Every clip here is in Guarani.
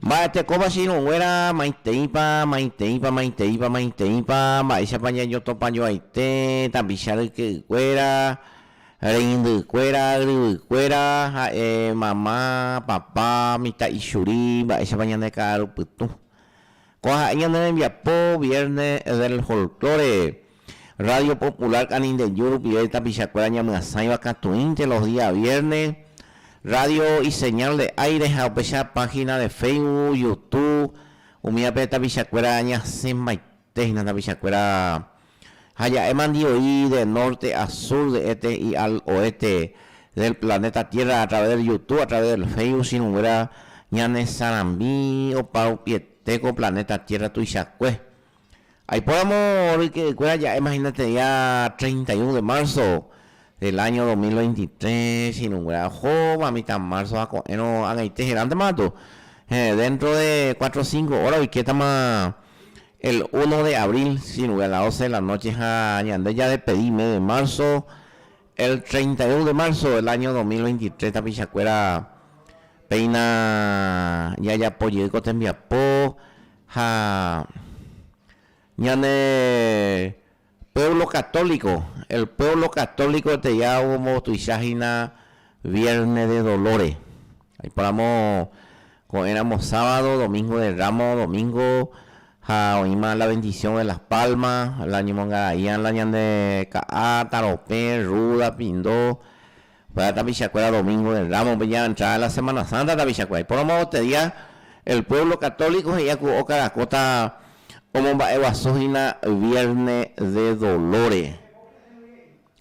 Mba'etekóva che irũnguéra, maiteipa, maiteipa, maiteipa, maiteipa, mba'éichapa ñañotopajoaite tapicha ryke'ykuéra, reindykuéra, yryvykuéra, ha'e mama, papa, mitã ichuri, mba'éichapa ñane ka'arupytũ. Kóa ha'e ñane rembiapo Viernes del Folklore. Radio Popular Canindeyú rupive tapichakuéra ñamyasãiva katuĩnte los día vierne, radio y señal de aire ha upecha página de Facebook, Youtube, umívape tapichakuéra ñasẽmbaite hína tapichakuéra ha ja'e mandioi de norte a sur, de este y al oeste del planeta tierra a través del Youtube, a través del Facebook chiruguéra ñanesarambi opa rupiete ko planeta tierra tuichakue. Aipóramo ryke'ykuéra ja'e mahinate'ia treinta y un de marzo del año dos mil veintitrés irũnguéra ohóva mitã marzo ha ko'ẽrõ ag̃aite herántema gatu heẽ dentro de cuatro cinco hora oikétama el uno de abril irũngue a las doce de la noche ha ñande jadespedi mes de marzo el treinta y un de marzo del año dos mil veintitrés tapichakuéra péina jajapo jey ko tembiapo ha ñane puévlo katóliko, el puévlo katóliko eteia ombotuicha hína viérne de dolóre. Aiporamo ko'ẽramo sábado, domingo de ramo, domingo, ha oĩma la vendisión de las palmas, la ñomongaraían la ñande ka'a, taropẽ, rúda, pindo. Kuéra tapichakuéra domíngope rámope ya entrada de la Semana Santa tapichakuéra. Iporomavoete día el pueblo católico he'i aku oka rakóta omomba'eguasuhína vierne de dolore.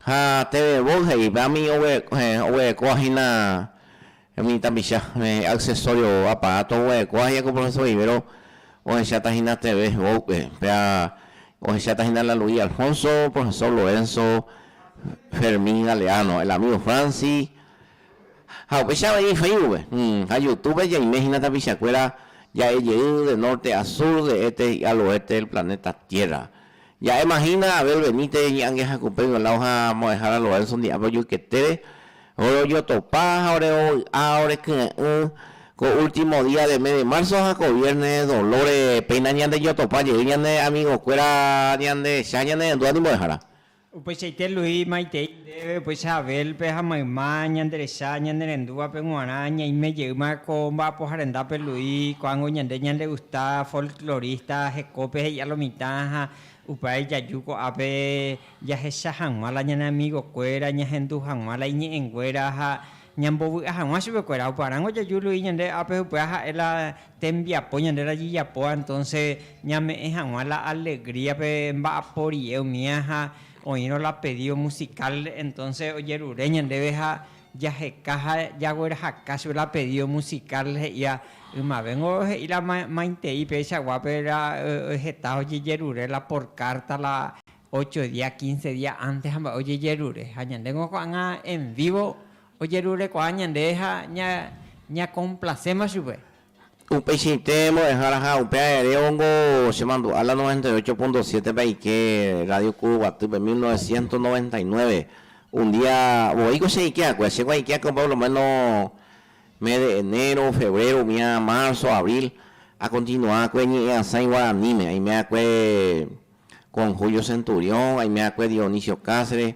Ha teve voi he'i upévami oguerekovahína umi tapicha, accesorio aparato oguerekóva he'i aku profesor Vivero Ohecháta hína TV Hewópe, péa ohecháta hína la Luis Alfonso, Profesor Lorenzo, Fermín Galeano, El Amigo Francis, ha upéicha avei Facebookpe ha Youtúbepe jaime hína tapichakuéra ja'e jey de norte a sur, de este y al oeste del planeta Tierra. Ja'éma hína Abel Benítez iñe'ange hakupe Violao ha Mo'ẽhára Lorenzo Ndi'ápe ojueketére, ore ojotopa ha ore ovy'a ore kyre'ỹ ko último día de mes de marzo ha ko viernes dolore péina ñandejotopa jey ñane amigokuéra ñandehecha ñanerendúva ni mbo'ehára. Upeichaite Luis maitei ndéve upéicha Abel-pe ha mayma ñanderecha ñanerendúvape g̃uarã ñaime jeýma ko mba'apoha rendápe Luis ko'ág̃o ñande ñandegusta folklorista hekópe he'i'a lo mitã ha upévare jaju ko'ápe jahecha hag̃ua la ñane amigokuéra ñahendu hag̃ua la iñe'ẽnguéra ha ñambovy'a hag̃ua chupekuéra oparãngo jaju Luis ñande ápe upéva ha'e la Tembiapo ñande rajejapóva entonce ñame'ẽ haguã la alegría pe mba'apo rie umía ha oĩrõ la pedido musical entonce ojerure ñandéve ha jaheka ha jaguerahaka chupe la pedido musical he'íva ymavéngo he'i la maitei péicha guápe la heta ojejerure la por carta la ocho día, quince día antes ha mba'e ojejerure ha ñandéngo ko'ágã en vivo Ojerurekuaa ñande ha ñakomplaséma chupe. Upeichaite mbo'ehára ha upe aere óngo chemandu'a la noventa y ocho punto siete pe aike Rádio Ku Guatýpe mil novecientos noventa y nueve. Un día voíko che aike akue, che guaike akue por lo méno mes de enero, febrero, umi ára marzo, abril, akontinua akue ñe'ẽ asãi guaraníme. Aime akue con Julio Centurión, aime akue Dionisio Cáceres.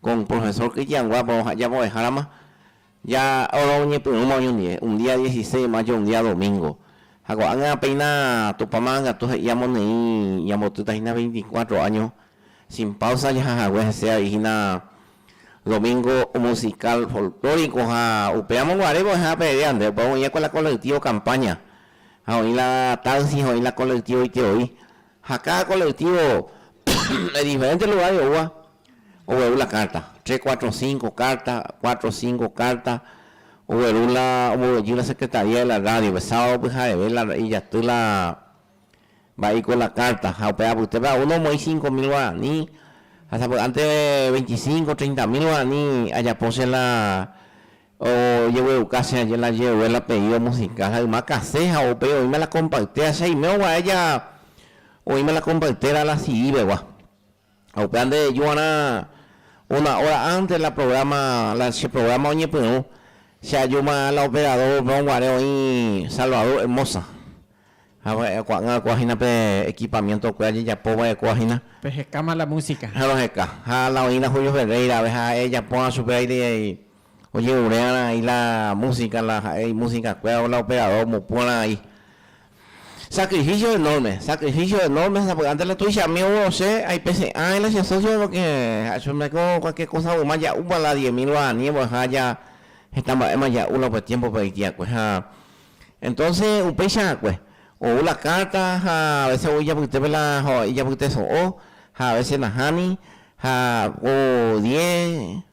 ko un profesor kytianguápe oha'ya voveháramo ja oro oñepyrũma oñondive, un día dieciseis de mayo, un día domingo. Ha ko'ág̃a péina Tupã Marangatúa he'i amoneĩ ñambotýta hína veinticuatro áño sin páusa jaha hague hese avei hína domingo musical folklórico ha upéramo guare vo'ehã peve ande, upéva oĩva ko la colectivo Campaña ha oĩ la Taxi ha oĩ la colectivo Iteoi. Ha káda kolektívo de diferénte lugár oúva ogueru la kárta, tres, cuatro, cinco kárta, cuatro o cinco kárta, ogueru la, ombovy'ajy la secretaría de la rádiope, sábado pyhareve la ijaty la mba'éiko la kárta, ha upe apytépe a uno omoĩ cinco mil guaraní, ha sapy'ánte veinticinco, treinta mil guaraní ajapo che la Ojegueruka che aje la jeue la pedido musical ha yma kase ha upéi oĩma la kompaitera che aime oguaéja oĩma la kompaitera la CD pegua ha upéva nde reju g̃uarã una hora antes la programa la che programa oñepyrũ che ajúma la operador pe oguare oĩ Salvador Hermosa Ha ko'ag̃akua hína pe ekipamiéntokue ajejapo va'ekua hína. Pehekáma la músika. Ha roheka. Ha la oĩrã Julio Ferreirave ha ha'e ejaporã chupe aire ojeruréara'aĩ la músika, la ha'e imusikakue, la operador omopu'ara'aĩ. Sakrifísio enórme, sakrifísio enórme, sapy'ánte la tuichami ou osẽ, aipese'ãi la che sósiope porke ha'e chupe mba'éiko kualkier kósa yma ja'úva la diez mil guarani embo'eha ja heta mba'éma ja'u la upe tiémpope oitiakue. Ha Entonce upéicha akue, ou la carta ha a veces ou ijapytépe la ijapyteso'o ha a veces nahani ha ko diez,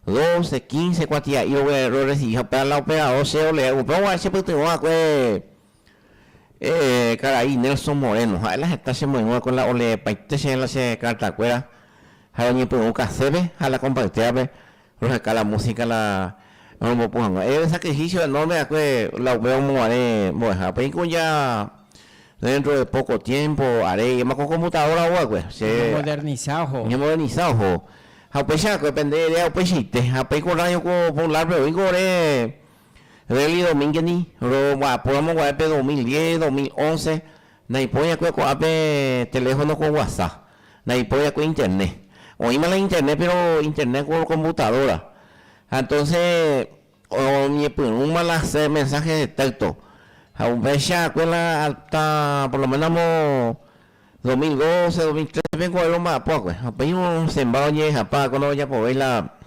doce, quince kuatia'i ro recibi ha upéva la operador che ro leer, upéva guarã che pytyvõ akue karai Nelson Moreno, ha'e la heta che moirũ akue la o leepaite che la che carta kuéra ha oñepyrũ café pe ha la compartía pe Roheka la músika la romombopu hag̃ua. Héve sakrifísio enórme va'ekue la upe omoguare mbo'ehápe. Ha'e ko ja déntro de póko tiémpo aréi, ema ko komputadóravo va'ekue, che Ñamomodernisa oho. Ñamodernisa oho. Ha upéicha va'ekue pende eréa upeichaite. Ha upéi ko Rrádio Popularpe oĩko ore Delly Domínguez-ni romba'apóramo guare pe dos mil diez, dos mil once. Naipoi'akue ko'ápe teléfono ko guasa, naipoi'akue internet. Oĩma la internet péro internet ko komputadóra. Ha entonse oñepyrũma la hér mensáhe de téxto. Ha upeichakue la hasta por lo ménos amo dos mil doce, dos mil tréce péiko oĩ romba'apo va'ekue. Ha upéi osẽmba oñehejapa va'ekue ndojapovéi la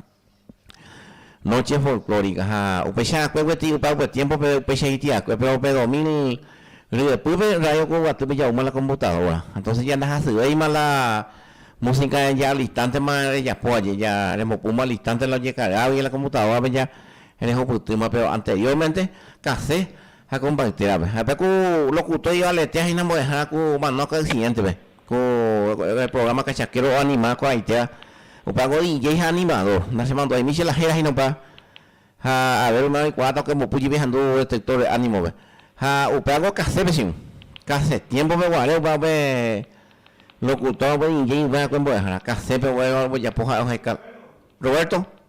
Noche folklórica ha upeicha akue guetyi ypakue tiempo pe upeicha iti akue pero pe dos mil ryepýpe radio koguaty pe jauma la computadora entonces ya nda hasyvéima la música ya al instante ma rejapo aje ya rembopuma al instante la ojecarga la computadora pe ya rehupytýma pero anteriormente case ha combaite rape ha pe ku locutor ivaletea hína mbo'ehára ku omano accidente pe Ko programa Cachakero oanima ko'ag̃aitéva, opa voi ijei ha animador, nachemandu'ai michĩ la héra hína opa, ha a ver oime oikuaáta okembopy jepi ahendu detector de ánimo-pe. Ha upéva ko cassette-pe che irũ, cassette tiempo-pe guare opa upe locutor voi ijei upe akue mbo'ehára, cassette-pe opa ojapo ha'e oheka. Roberto.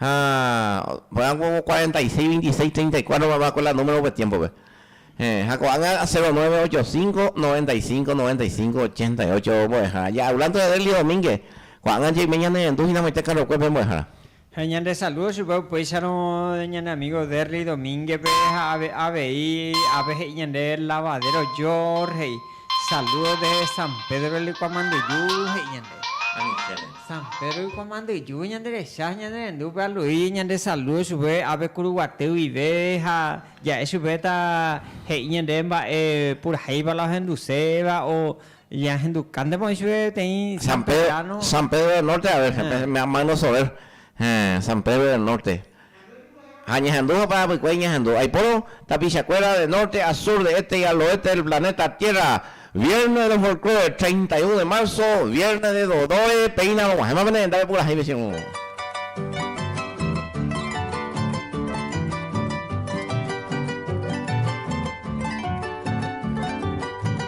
Ha ko'ág̃a ko cuarenta y seis, veintiséis, treinta y cuatro mamá ko la número upe tiémpope. Héẽ, ha ko'ág̃a cero nueve, ocho cinco, noventa y cinco, noventa y cinco, ochenta y ocho ombo'ehára. Ja'a Aulante Adelio Domínguez, ko'ág̃a jeimína nerendu hinamoite carrokue pe mbo'ehára. Ha ñande saludo chupe upéicharõ ñane amigo Derly Domínguez-pe ha ave avei ápe he'i ñande lavadero George he'i, saludos desde San Pedro del Licuamanduju he'i ñande. Anichéne. San Pedro ikuamandyju ñanderecha ha ñanerendúpe alui ñandesaludo chupe ápe kuruguaty guive ha ja'e chupe ta he'i ñande mba'e purahéipa la ohenduséva o ñahendukántepa oĩ chupe peteĩ San Pedro del Norte, a ver, me han mano sobre San Pedro del Norte, Ha ñahendu ha parapykuéri ñahendu. Aipórõ tapichakuéra de norte a sur, de este y al oeste del planeta Tierra. Viernes del Folklore, 31 de marzo, Viernes de Dodoe, péina rog̃uahẽma pene rendápe purahéi vecino.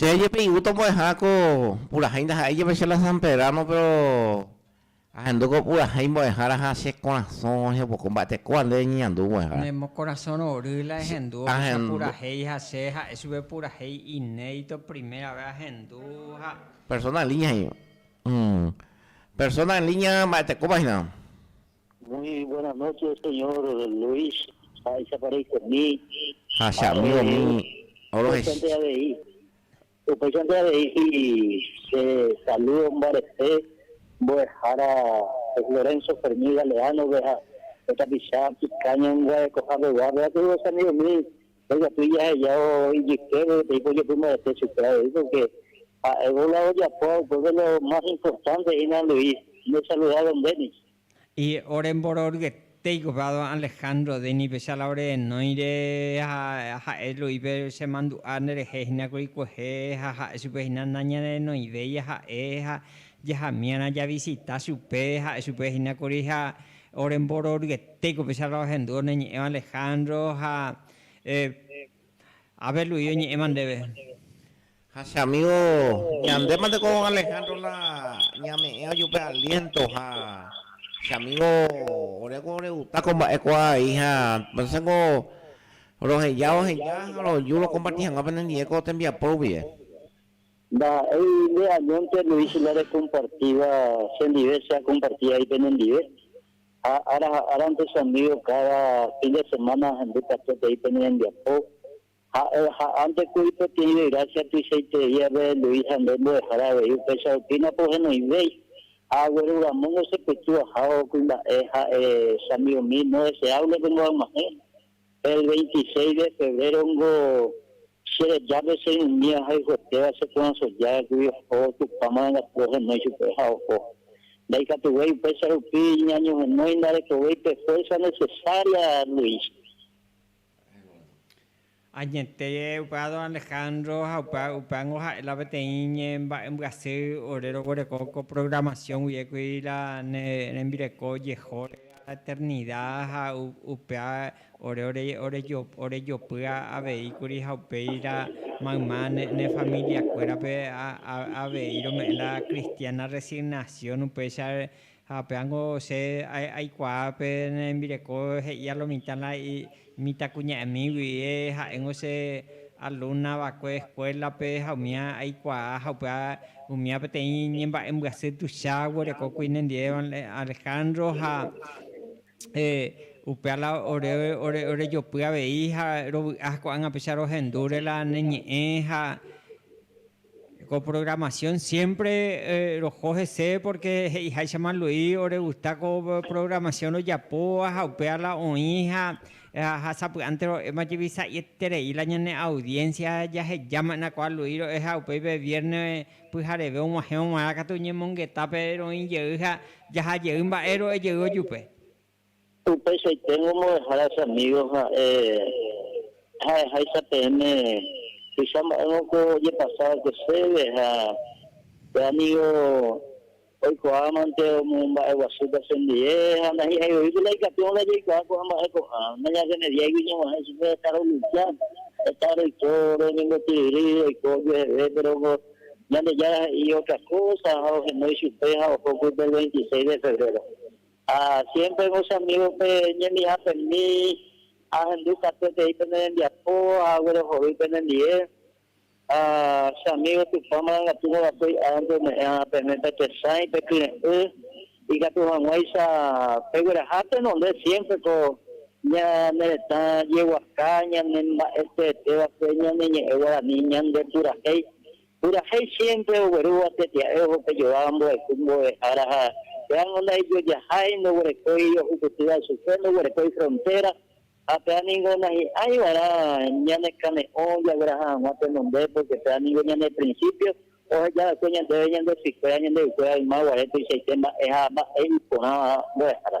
Che ajepe'igu tombo'eha ko purahéi ndaha'éi jepe che la San Pedrano, péro ahendu ko purahéi mbo'ehára ha che korasõ ehepoko mba'ete kóva nde reñeñandu mbo'ehára. Ne mokorasõ rory la ehendu ohecha purahéi ha che ha'e chupe purahéi inédito primera ves ahendu ha. Persona en línea he'íva. Persona en línea mba'etekópa hína. Muy buenas noches señor Luis, mba'éichapa reikomi. Ha che amígomi orohecha. Upéichante avei che saludo mbarete mbo'ehára Lorenzo Fermín Galeano-pe ha pe tapicha Picaña Guarekohápe guápe, ha kuri vosamigomi Ndojapy ijahejávo ijyképe peteĩ pojopymarete chupe avei, pórke ha'évo la ojapo. Ha upépe lo más importante hína Luis, ndesaluda Dennis. Y ore mbororyetéiko pe a don Alejandro, Dennispecha la ore renóire ha ha'e Luispe, Che mandu'a nderehe hína kuri kuehe, ha ha'e chupe hína nañanderenoivéi jaha'e, ha jahamiarã javisita chupe, ha'e chupe hína kuri ha Ore mbororyetéko pecharra ohendúvo ne ñe'ẽva Alejandro ha Abel Luis oñe'ẽva ndéve. Ha che amigo, ñandéma nde ko Alejandro la ñame'ẽ ajupe aliento ha che amigo oreko oreguta ko mba'e kua vai ha pese ko roheja oheja ha roju rokomparti hag̃ua penendive ko tembiapo rupie. Ndaha'éi nde añónte Luis la rekompartíva chendive che akomparti ai penendive, ha ára ha árante che amígo káda fin de semána ahendu katu peteĩ pene rembiapo. Ha'e oha'ánte kuri peteĩ grásia tuichaiterei avei Luis ha nde mbo'ehára avei upéicha rupiña pohenoivéi. Ha agueru ramóngo chepytu ahávo kuimba'e ha'e che amigomíno deseáble pende ag̃uahẽ. El veintiséis de febrero-ngo che rejápe che umi ahayhuetéva che porãsojágagui oho Tupã marangatu ohenói chupe ha oho. Ndaikatuvéi upéicha rupi ñañohenói ndarekovéi pe fuerza necesaria, Luis. Añete upe don Alejandro ha upe upévango ha'e la peteĩ ñemba'embyasy ore roguereko ko programación guive kuiríla ne rembireko jehóre. eternida ha upéva ore orejopy avei kuri ha upéira mayma ne familia kuérape avei rome'ẽ la cristiana resignación upéicha ha péva niko che aikuaa pe ne rembireko he'íva lo mitã la Mitãkuña'ẽmígui ha'éngo che alumna va'ekue escuela-pe ha umía aikuaa ha upéva umía peteĩ ñemba'embyasy tuicha oguerekókuri nendive Alejandro ha upéva la ore orejopy avei ha rovy'a ha ko'ág̃a péicha rohendúre la ne ñe'ẽ ha Ko programación siempre roho hese porque he'iháichama Luis oregusta ko programación rojapóva ha upéva la oĩ ha sapy'ánte ro'éma jepi sa'ieterei la ñane audiencia jahejama'erã ko Luis ro'e ha upéi pe vierne pyhareve og̃uahẽvo g̃uarã katu ñemongetápe roĩ jey ha jaha jey mba'e ro'e jey ojupe. Upeichaiténgo ombo'ehára che amigos ha'e ha'eháicha peẽme tuicha mba'éngo ko ojepasa va'ekue chéve ha pe amigo oikuaámante omomba'eguasúta chendie ha ndahi'aivoípe la ikatúva ndajaikuaa ko'ã mba'e ko'ã. Ndañarremediáigui ñemoha'e chupe heta rolucha, heta roiko, roñembotyryry, roiko ojueheve, péro ko Ñandejára he'i otra kósa ha ohenói chupe ha oho pype el veintiséis de febréro. Ha siémpre ko che amígope ñemihapemi, ahendu katu peteĩ pene rembiapo ha aguerohory penendive. Ha che amígo Tupã marangatu kava'ekue hi'ág̃ante ome'ẽ hag̃ua pene pe tesãi, pe kyre'ỹ, ikatu hag̃uáicha pegueraha tenonde siémpre ko ñane retã jeguaka, ñane mba'eteeteva'ekue ñane ñe'ẽ guarani ñandepurahéi. Purahéi siémpre oguerúva tetia'e oho pe jováva mbohayhu mbo'ehára ha péango ndaijojahái, ndoguerekói ohupytýva chupe, ndoguerekói frontéra ha péva ningo nahi'ãi va'erã ñanekane'õ jagueraha hag̃ua tenonde, pórke péva ningo ñane prinsípio oheja va'ekue ñandéve ñande sykuéra ñande ykuéra yma guare tuichaite mba'e ha mba'e iporã mbo'ehára.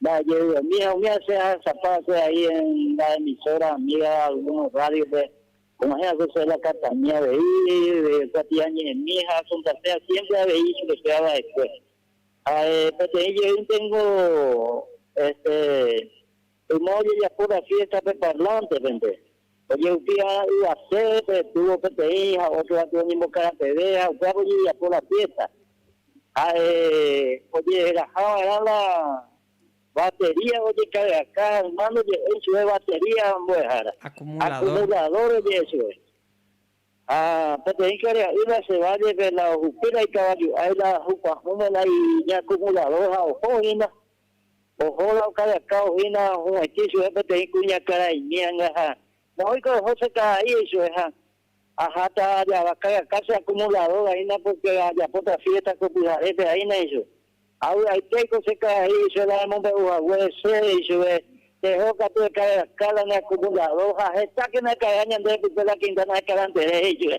Mba'ejevy, umi ha umi asẽ ahechapa ha'ekuéra ahí en la emisora amiga algunos radio-pe, como ejemplo che la Catania avei, kuatia ñe'ẽmi ha asuntasea siempre avei ichupe péva va'ekue. Ha peteĩ jeýnte ningo este yma ojejapo la fiesta pe parlante-pente. Ojehupi va'erã yvase pe túvo peteĩ ha ótro gatu oñembokarateve ha upévape ojejapo la fiésta. Ha'e ojeheraha va'erã la batería ojekargaka ha hermáno oje'éi chupe batería mbo'ehára, akumuladór oje'e chupe. Ha peteĩ kare'a'y nase vállepe la ohupi la ikavaju ái la ojukuahũma la iñakumuladór ha oho oĩma. Oho la okadaka ohína hu'ãitĩ chupe peteĩ kuñakaraimi hanga ha moõiko oho che karai eichove ha aháta ajavakagaka che akumuladór vaína pórke ajapóta fiésta ko pyharépe aína eichove. Avy'aite aiko che karai eichove la emombe'u haguére chéve eichove peho katu ekadaka la ne akumuladór ha hetákena ekarea ñande repype la quinta nahekarantere he'ichupe.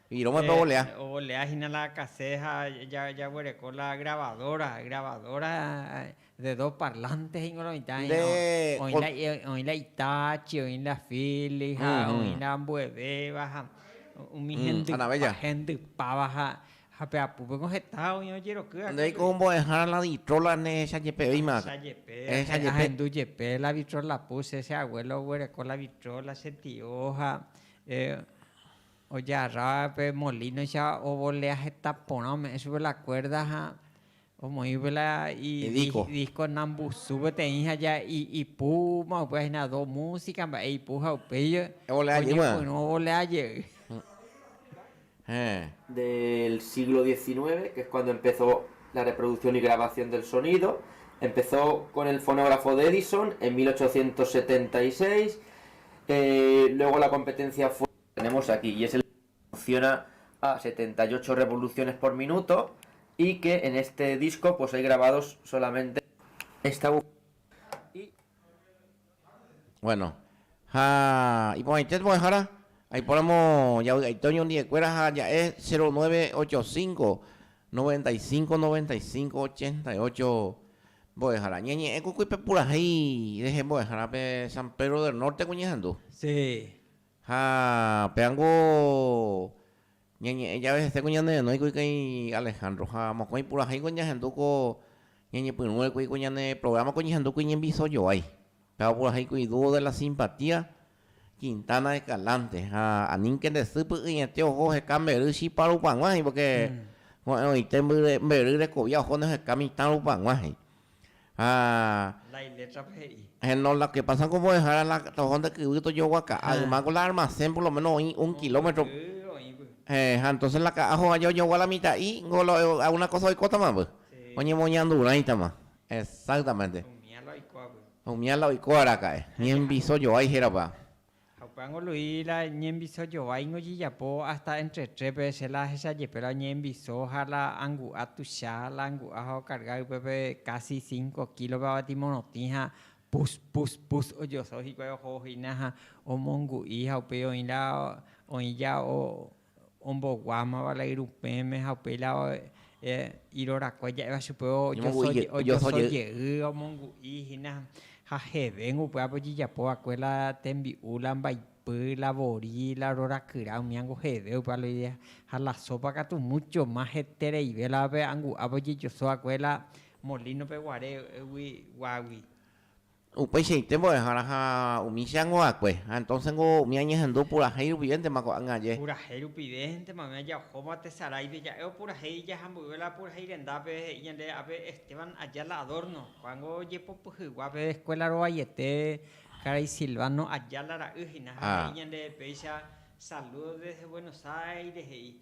Irõme pe ovolea. Ovolea hína la kase ha jaguereko la grabadora. Grabadora de dos parlantes hína oĩta. Oĩ la Hitachi, oĩ la Philips ha oĩ la ambuevéva ha umi hendypáva ha pe apúpeko heta oĩ ojerokýva kónde. Ndéiko ombo'ehára la vitrola ehecha jepe oĩma. Ehecha jepe. Ahendu jepe la vitrola puse. Che abuelo oguereko la vitrola, che tio ha. Ojarra pe molínoicha ovolea heta porã, ome'ẽ chupe la kuérda ha omoĩ upe la idísko nambusu peteĩ ha ja ipúma upéva hína do músika mba'e ipu ha upéi oñepyrũ ovolea jey. Tenemos aquí y es el funciona a setenta y ocho revoluciones por minuto y que en este disco pues hay grabados solamente esta bujía y Bueno, ha iporãite tu'ãhára, aipóramo javy'aite oñondi'ekuéra ha aja'e cero nueve ocho cinco, noventa y cinco, noventa y cinco, ochenta y ocho mbo'ehára. Ñañe'ẽ ku kuipe purahéi rehe mbo'ehárape San Pedro del Norte-pe ñehendu. Sí. Ha péango ñañe'ẽ jave heséko ñane renói kuri kãi Alejandro, ha mokõi purahéingo ñahendu ko ñañepyrũre kuri ko ñane programa ko ñehendu kuri ñembyso joái. Péva purahéi kuri Dúo de la Simpatía, Quintana Escalante, ha aníke nde sy py'ỹiete oho oheka mbery chipa rupaguãhei, porque ko'ẽrõite mbyre mbery rekovia ohóne oheka mitã rupaguãhei. Ha. La ilétrape he'i. Heno, lo ke pasa ko mbo'ehára la toho nde kyvy tojoguaka. Ha yma ko la armasén por lo méno oĩ un kilómetro. Mbo'epy oĩvy. Héẽ, ha entóse la ka'a hovaja oñogua la mitã'i, niko lo alguna kósa oikótama vy. Oñemoñandurãitama. Exáktamente. Umía la oiko avy. Umía la oiko araka'e. Ñembiso joái hérava. Ha upévango Luis la ñembyso jováingo jejapo ásta entre trépe, che la ahecha jepérõ ñembyso ha la angu'a tuicha, la angu'a ha okarga ypépe kási cinco kílope avati morotĩ ha pus, pus, pus ojoso hikuái oho hína ha omongu'i ha upéi oĩ la oĩ ja omboguámava la irupẽme ha upéi la irorakue ja'éva chupe ojoso jey omongu'i hína ha jeve upévape ojejapova'ekue la tembi'u, la mbaipy, la vori, la rorakyra umíango jeve upéva la idea ha la sópa katu múcho más hetereive la pe angu'ápe ojejoso va'ekue la molinope guaregui guágui. Upeichaite mbo'ehára ha umi che angova'ekue. Ha entonce niko umi añehendu purahéi rupivéntema ko'ág̃a aje. Purahéi rupivéntema umi ajaojóva tesaráipe ja'e opurahéi jaha mboyve la purahéi rendápe, he'i ñande ápe Esteban Ayala Adorno. Ko'ág̃a ojepopyhygua pe escuela rovaiete karai Silvano Ayala ra'y hína ha he'i ñande péicha, Saludos desde Buenos Aires, he'i.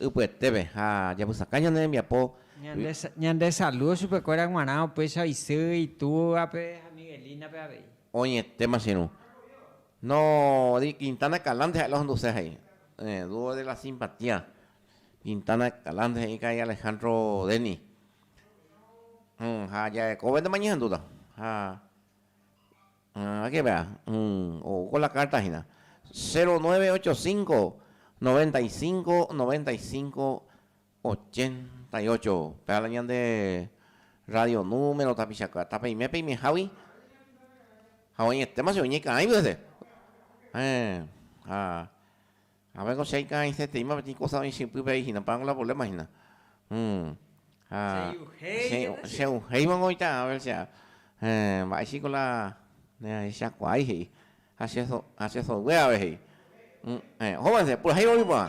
Ypyetépe, ha japysakã ñane rembiapo. Ñande, ñande saludo chupe kuéra g̃uarã opéicha isy itúvape ha Miguelinape avei. Oñetéma che irũ. No, de Quintana Escalante ha'e la ohonduse jay. Eh, dúo de la simpatia. Quintana Escalante he'i karai Alejandro Denny. Hm, ha jarekóvente mañehendúta. Ha. Ha ke vea, ko la carta hina, 0985 95 95 88, pe'a la ñande radio número tapichakua, tapeime peime jagui, ha oĩ etéma che oñekãigui hese. Ehen. Ha. Ha'e ko che ika'aisetaíma peteĩ kósa oĩ che ypy pe hína, pan la poléma hína. Ha che uhéivo niko oĩta Abel che ára. Mba'e híko la neahechakuaái he'i. Ha che soygue ápe he'i. Ohovénse, purahéivo oĩ porã.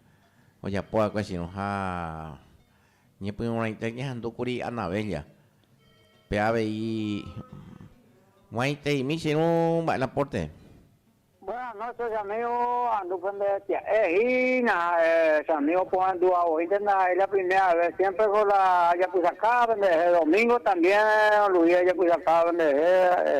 Ojapo akue sino ha ñepyrũrãite ñahendu kuri Anabella. Pe avei guaiteimi che irũ mba'e la porte. Buenas noches amigo, andu pende pya'e hína ha'e che amigo pohendu avoínte ndaha'éi la primera vez siempre ko la ajapysakáva penderehe domingo también oluvi ajapysakáva penderehe ha'e.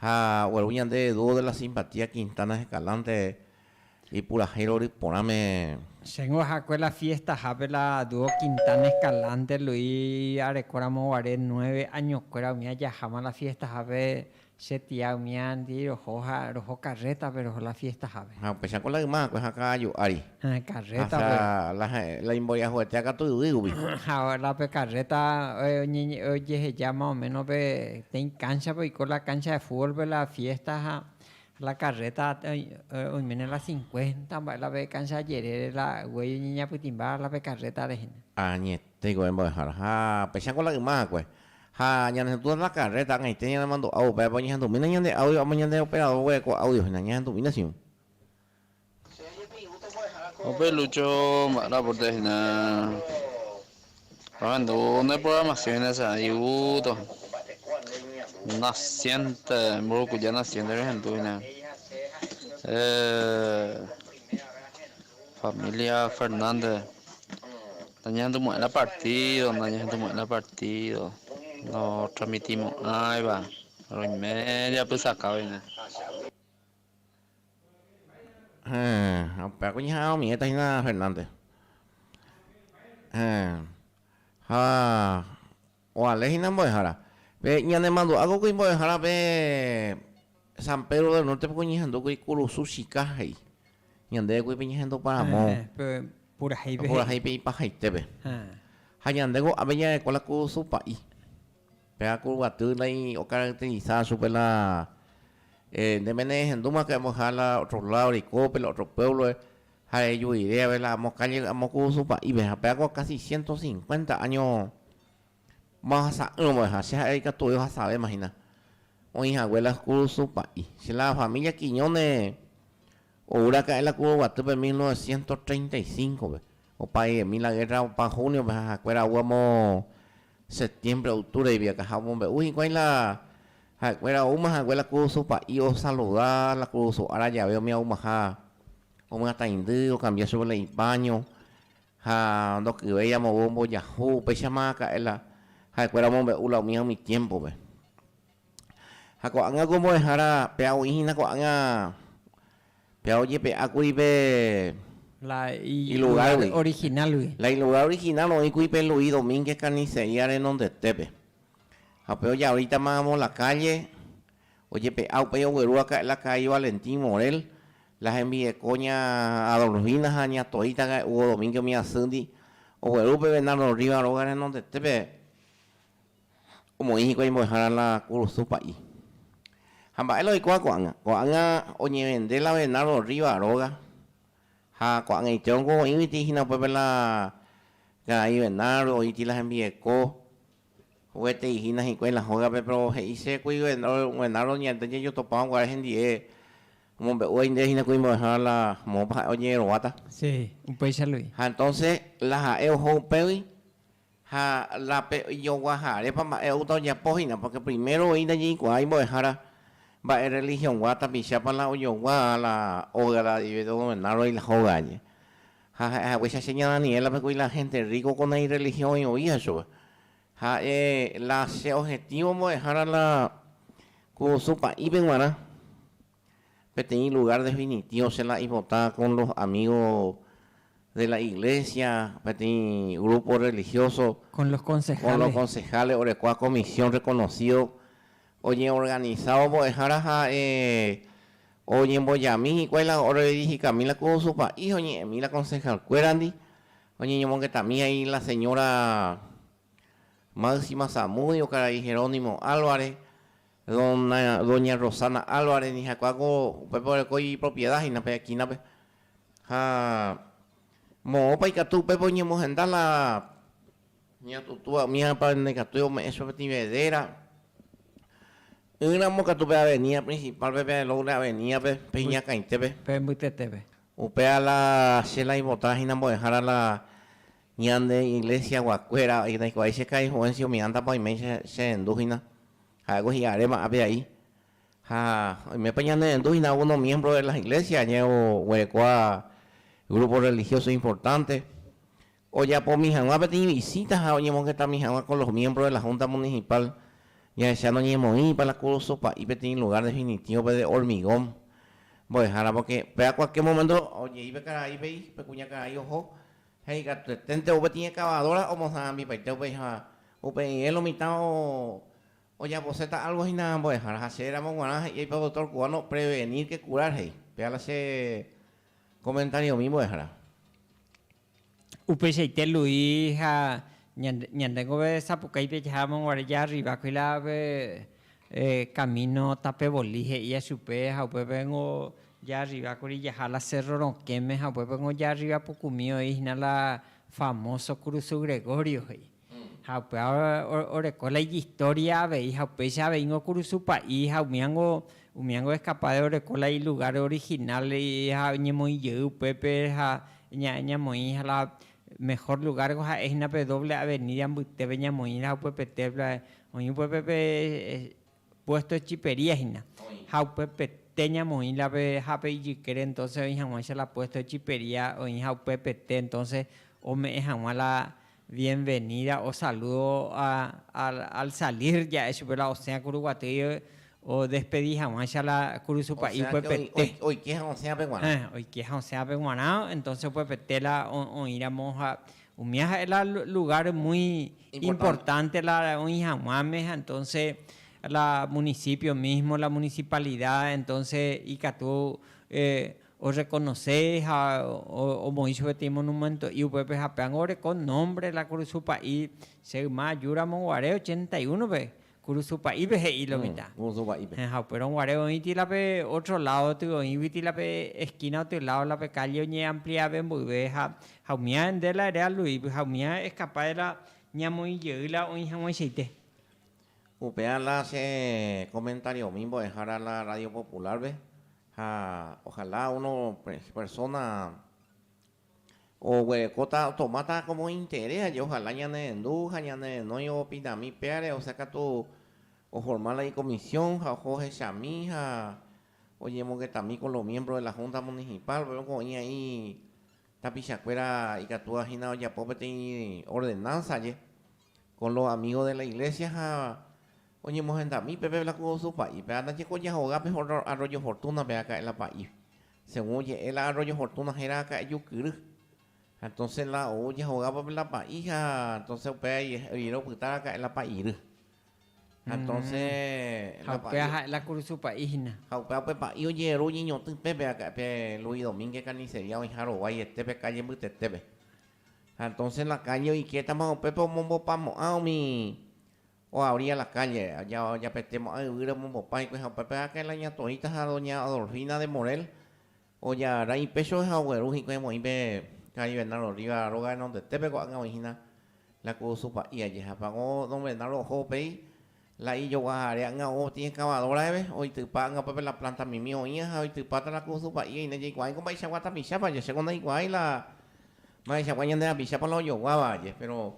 Ha ogueru ñande dúo de la simpatía Quintanas Escalante ipurahéi rory porãme. Chéngo ahakue la fiestahápe la dúo Quintana Escalante Luis arekóramo guare nueve añokuéra umi ajaháma la fiestahápe che tía umi andii roho ha roho carrétape roho la fiestahápe. Ha upéicharõ la yma akue ha ka'aju ári. Carrétape. La imboriahuetea katu yvýgui. Ha la pe carreta ojeheja más o menos peteĩ cancha-pe, oiko la cancha de fútbol-pe la fiesta ha la carreta oiméne la cincuenta mba'e la pe cancha jerére la guei oñeñapytĩmba la pe carreta rehe. Añetéiko pe mbo'ehára. Ha peichako la yma hakue. Ha ñanehetũ la carreta ag̃aite ñanemandu'ávo upévape oñehentumína ñande audio amo ñande operador guereko audio-hína, ñahentumína chĩu. Upéi Lucho mba'éra aporte hína ohendu ne programación hína che ipyto naciente Mburukuja naciente rehendu hína familia Fernández nañehendu mo'ẽrã partido nañehendu mo'ẽrã partido notramitimo'ãiva roime japysakáva hína. Héẽ, upéva ku ñaha'a omiéta hína Fernández. Héẽ, ha oale hína mbo'ehára. Pe ñanemandu'a ko kuimba'e mbo'ehára pe San Pedro del Norte piko ñehendu kuri kurusu chika he'i. Ñandéve kuri pe ñehendu Paramo. Pe purahéi pe he'i. Purahéi pe ipahaitépe. Ha ñande ko'ápe ñarekóla kurusu pa'i. Pe haku guaty naĩ ocaracteriza chupe la, eh, ndéme nehendúma que amoja la otro lado reikópe, la otro pueblo, ha rejuiréave la amo calle amo kurusu pa'ípe, ha pe haku casi ciento cincuenta año ma ohasa'ỹva mbo'eha, che ha'e ikatuve ohasavéma hína oĩ hague la kurusu pa'i. Che la familia Quiñones ou raka'e la Kuruguatýpe mil novecientos treinta y cinco-pe. Opa diezmil la guerra opa junio-pe ha ha'ekuéra ogue amo septiembre, octubre-gui akaha omombe'u hikuái la ha'ekuéra oúma hague la kurusu pa'i osaluda la kurusu ára jave umi aumaha omyatãindy okambia chupe la ipaño ha ndokyvéi amogua ombojahu, upéichama aka'e la ha'ekuéra omombe'u la umíva umi tiempo-pe. Ha ko'ág̃a ku mbo'ehára, péva oĩhína ko'ág̃a Péva ojepe'ákuri pe. La ilugar original-gui. La ilugar original oĩkuri pe Luis Domínguez carnicería renondetépe. Ha upéva ojaorítama amo la kálle ojepe'a upéi ogueru aka'e la Kaai Valentín Morel, la hembireko ña Adolfina ha ña Toita ka'e Hugo Domínguez umi asýndi ogueru pe Bernardo Rivas róga renondetépe. Omoĩ hikuái mbo'ehára la kurusu pa'i. Ha mba'e la oikuaa ko'ág̃a? Ko'ág̃a oñevende la Bernardo Rriva róga, ha ko'ag̃aite ongo oĩguiti hína upépe la karai Bernardo, oĩti la hembieko, oguetei hína hikuái la hógape, péro he'i che kui Bernardo ñande ñajotopáva guare hendie, omombe'u aindéve hína kui mbo'ehára la moõpa ha'e oñeguerováta. Ha entonce la ha'e oho upégui Ha la pe ijoguahárepa mba'e oúta ojapo hína, pórke primero oĩ ndañe'ikuaái mbo'ehára mba'e rrelihiõgua tapichápa la ojogua la oagradeve dogovenárõi la hóga añe. Ha ha'e hague che aséña Daniélape kuri la hénte rríko ko nairrelihiõ oĩ ovíha chupe. Ha'e la che ojetívo mbo'ehára la ku su pa'ípe g̃uarã. Peteĩ lugar definitivo che la ipota con los amigo de la iglesia, peteĩ grupo religioso, con los concejales orekua comisión reconocido oñeorganisávo mbo'ehára ha oñembojami hikuái la orredirigikami la ku su país, oñe'ẽmi la concejalkuérandi, oñeñomongetami hai la señora Máxima Zamudio, karai Jerónimo Álvarez, Dona, doña Rosana Álvarez ni ha'ekuéra ko upépe oreko ipropiedad hína pe esquina-pe. Ha moõpa ikatu upépe oñemohenda la ña tutúa umíva ndaikatúi ome'ẽ chupe peteĩ vedera. Ỹramo katu pe avenida principal-pe, pe Lourdes Avenida-pe, pe iñakãitépe. Pe mbytetépe. Upéva la che la ivota hína mbo'ehára la ñande Iglesia-guakuéra, ndaikuaái che ka'i influencia umi ánta-pa oiméi che, chehendu hína. Ha'éko hi'aréma ápe a'i. Ha oimépa ñanerendu hína uno miembro de las iglesias añae oguerekóva grupo religioso importante, ojapomi hag̃ua peteĩ visita ha oñemongetami hag̃ua con los miembros de la Junta Municipal, jahecha noñemoĩpa la kurusu pa'i peteĩ lugar definitívope de hormigón mbo'ehára, porque pe a cualquier momento oje'i pe karaípe y pe kuñakarai oho. Ha ikatueténte upe tĩ ekavadóra omosãambipaite upéicha, upe irẽlo mitã ojaposéta álgo hína ambuehára. Ha che ramo g̃uarã he'iái pe doktór kubáno, prevenir que curar he'i. Péva la che komentariomi mbo'ehára. Upeichaite Luis ha ñandéngove sapukái pe jaha amonguare jaarriva kuilápe Camino tape Bolí, he'íva chupe, ha upépe niko jaarriva kuri jaha la Cerro Rokẽme, ha upépe niko jaarriva pukumi oĩ hína la famoso Cruzu Gregorio he'i. Ha upéva oreko la ijistoria avei, ha upéicha avei niko Cruzu pa'i, ha umíva niko, umíva niko escapa de oreko la ilugar original ha oñemoĩ jey upépe ha ñamoĩ ha la Mehor lugar ko ha'e hína pe doble avenida mbytépe ñamoĩrã upépe pe templo oĩ upépe pe puesto de chipería hína ha upépe te ñamoĩ la pe ha pe ijykére entonce oĩ haguã cha la puesto de chipería oĩ ha upépe te entonce ome'ẽ haguã la bienvenida o saludo al salir ja'e chupe la osẽa kuru guatýi odespedi hag̃uáicha la kurusu pa'i upepete. Oike ha osẽ ape g̃uarã. Oike ha osẽ ape g̃uarã, entonces upepete la oĩramo ha umía ha'e la lugar muy importante la oĩ hag̃uáme ha entonces la municipio mismo, la municipalidad entonces ikatu o reconoce ha omoĩ chupe tei monumento'i upépe ha péango oreko nombre la kurusu pa'i che yma aju ramo guare ochenta y uno pe Kurusu pa'ípe he'i lo mitã. Ha upérõ guare oĩ tila pe ótro ládo gotyo, oĩgui tila pe eskína gotyo ládo la pe kálle oñeampliave mboyve ha umi aende la ere aluígui ha umi aeskapa de la ñamoĩ jey la oĩ hag̃uaichaite. Upéva la che komentariomi mbo'ehára la Radio Popular-pe ha ojalá uno persona Oguerekóta, tomáta kómo interés aje ohala ñanerendu ha ñanerenói opinami péare, osea katu oforma la ikomisión ha oho ohechami ha oñemongetami kon lo miembro de la Junta Municipal, por ehémplo oĩ aĩ tapichakuéra ikatúva hína ojapo peteĩ ordenanza aje kon lo amigo de la iglesia ha oñemohendami pépe la ku su pa'ípe ha ndaje ko jahoga pe Arroyo Fortuna pe aka'e la pa'ípe Según oje'e la Arroyo Fortuna héra akã ejukyry. Ha entonces la ou jehogávo pe la pa'i ha entonces upéva rire opyta raka'e la pa'iry. Ha entonces la pa'i. Ha upéva ha'e la kurusu pa'i hina. Ha upéva pe pa'i ojeheru oñeñotỹ pépe akã pe Luis Domínguez carnicería oĩha rovái ete pe calle mbytetépe. Ha entonces la calle oikétama upépe omombopamo'ã umi Oa oría la kálle, japete mo'ã yvýre omombopá hikuái ha upépe áke la ña Torita ha doña Adolfina de Morel ojagarra ipéchove ha ogueru hikuái voi pe karai Bernardo Rivas róga renondetépe ko'ág̃a oĩ hína la kurusu pa'i aje ha pago don Bernardo oho upéi la ijoguahare ág̃a ou ti excavadora-eve oitypa ág̃a upépe la planta mimi oĩva ha oitypáta la kurusu pa'i aine jaikuaáiko mba'eichagua tapichápa aje chéko ndaikuaái la mba'eichagua ñande rapichápa la ojoguáva aje péro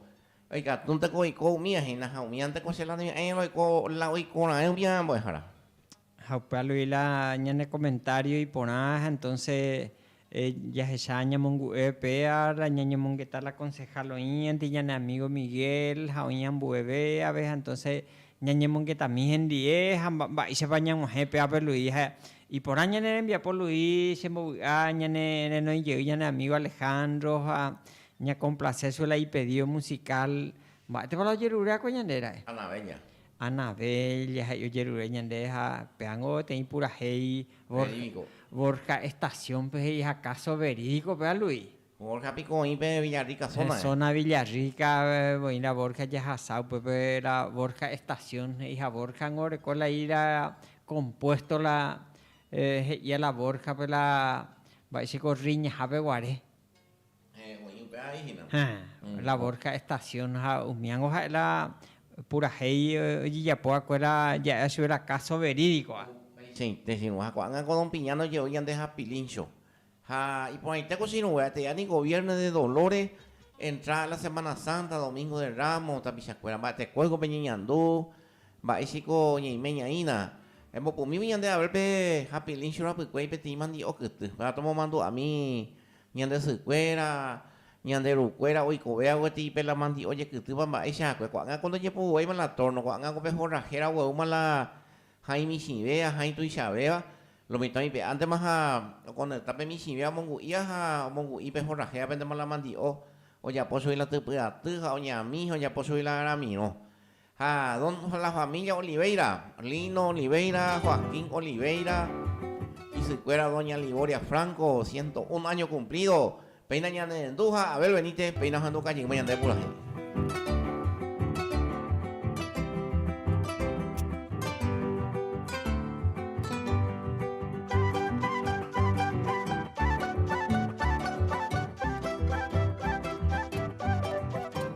Oikatúnteko oiko umía hína ha umíante ko che lado ñe'ẽ roiko la oiko raẽ umi ára mbo'ehára. Ha upe alui la ñane comentario iporã ha entonce jahecha ñamongu'e péa la ñañemongeta la concejal oĩandy ñane amigo Miguel ha oĩ ambue véave ha entonce ñañemongetami hendie ha mba'éichapa ñag̃uahẽ péape Luis ha iporã ñane rembiapo Luis chembovy'a ñane renoi jey ñane amigo Alejandro ha Ñakomplase su la ipedido musical. Mba'étepa la ojerure akue ñande ra'e? Ana Bella. Ana Bella ha ojerure ñande ha péango teĩ purahéi Verídico. Borja Estación-pe he'i ha káso verídico-pe alu'i. Borja piko oĩ pe Villarrica zona-g̃e. Pe zona Villarrica voi la Borja jahasa upépe la Borja Estación he'i ha Borja-ngo oreko la i la compuesto la he'íva la Borja-pe la mba'éichiko Riñahápe guare. Ha la Borja Estación ha umíango ha'e la purahéi ojejapo va'ekuéra ja'e achuve la káso verídikoa. Upeichaite che irũ. Ha ko'ág̃a ko don Piñano je'ói ñande hapilíncho. Ha iporãite ko che irũngue ate'a ni goviérno de dolores, entrada la Semana Santa, Domingo de Ramos, tapichakuéra mba'etekói ko peñeñandu, mba'éichaiko ñeimeñaína. Embopumívo ñande haber pe hapilíncho rapykuéi peteĩ mandi'o kyty. Péva tomomandu'ami Ñande sykuéra, ñande rukuéra oikove aguetei pe la mandi'o ojekýtýva mba'eichahakue, ko'ág̃a ko ndojepoguevéima la tórno, ko'ág̃a ko pe horrahéra ogueúma la hãi michĩve, ahãi tuichavéva, lo mitãmi pe ántema ha okoneta pe michĩve omongu'íva ha omongu'i pe horrahe apendéma la mandi'o, ojapo chugui la typy aty ha oñami ha ojapo chugui la aramirõ. Ha don la familia Oliveira, Lino Oliveira, Joaquín Oliveira, isykuéra doña Liboria Franco, ciento un año cumplido, péina ñane rendu ha Abel Benítez, péina ohendu kajyma ñande purahéi.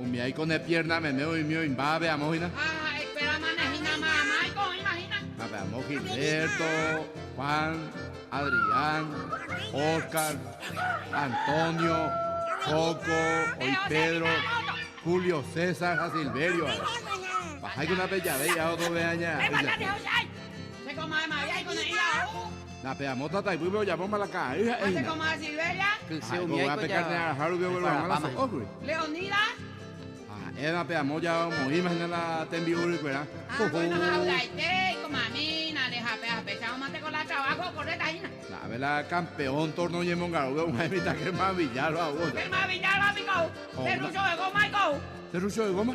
Umi aiko ne piérna meme oĩmi oĩmbávape amo hína. Ha ha'ekuéramana hína mayma aiko oĩva hína. Ha pe amo Gilberto, Juan, Adrián, Oscar, Antonio, Coco, oĩ Pedro, Julio César ha Silverio ári. Paháikuna pe jave hi'ávo tove'aña. Péva Ñandejára, che ko mayma aiko ne'ĩva ou. Tape amo tataipýpe ojapóma la ka'aguy ha'e hína. Kyse umi aiko pe karne'arãha rupi oguerohag̃ua la so'ógui. Ha'e tape amo ojava omoĩma hína la tembi'urykuera. Na'ápe la kampeón tórno oñemongarugue og̃uahẽ mitã Germán Villar ro'aguýpe. Terrucho de goma?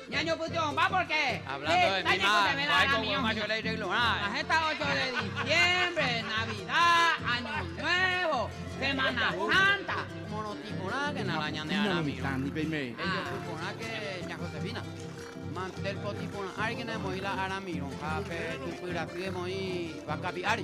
Ñañopytyvõpa pórke heta ñaikotevẽva ramiñomi. Ha heta ócho de disiémbre, Navida, áño nuévo, Semana Sánta, morotĩ porãkena la ñane ára mirõ. Ejopy porãke ña Josefina, mantel potĩ porã árikena emoĩ la ára mirõ ha pe typy raty emoĩ vaka pi'ári.